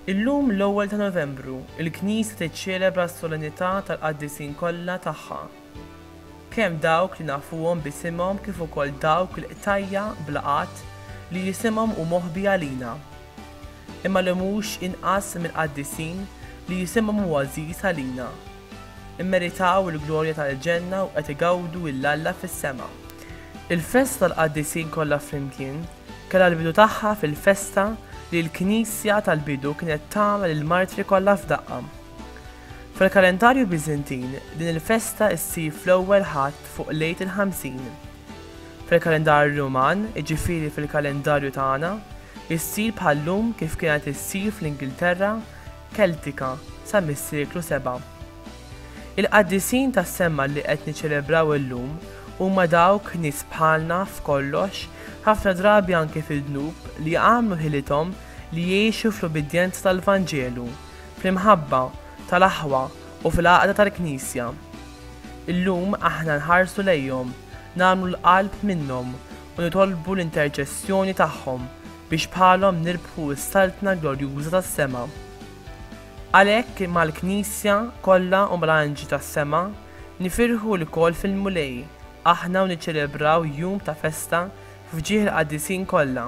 Illum l-ewwel ta' Novembru, il-Knisja tiċċelebra s-Solennità tal-Qaddisin kollha tagħha. kemm dawk li nafuhom b'isimhom kif ukoll dawk il-qtajja' bla għadd li isimhom hu moħbi għalina, imma li mhux inqas mill-qaddisin li isimhom hu għażiż għalina, immeritaw il-glorja tal-ġenna u qed igawdu 'l Alla fis-sema. Il-festa tal-qaddisin kollha flimkien kellha l-bidu tagħha fil-festa li l-Knisja tal-bidu kienet tagħmel lill-martri kollha f'daqqa. Fil-kalendarju Biżintin, din il-festa ssir fl-ewwel Ħadd fuq Lejt il-Ħamsin. Fil-kalendarju Ruman, jiġifieri fil-kalendarju tagħna, issir bħal-lum kif kienet issir fl-Ingilterra Keltika sa mis-seklu seba'. Il-qaddisin tas-semma li qed niċċelebraw illum huma dawk nies bħalna f'kollox, ħafna drabi anke fid-dnub, li għamlu ħilithom li jgħixu fl-ubbidjenza tal-Vanġelu, Fl-imħabba tal-aħwa u fil-għaqda tal-Knisja. Illum aħna nħarsu lejhom, nagħmlu l-qalb minnhom u nitolbu l-interċessjoni tagħhom biex bħalhom nirbħu s-Saltna glorjuża tas-sema. Għalhekk mal-Knisja kollha u mal-anġli tas-sema nifirħu lkoll fil-Mulej aħna u niċċelebraw jum ta' festa f'ġieħ il-qaddisin kollha.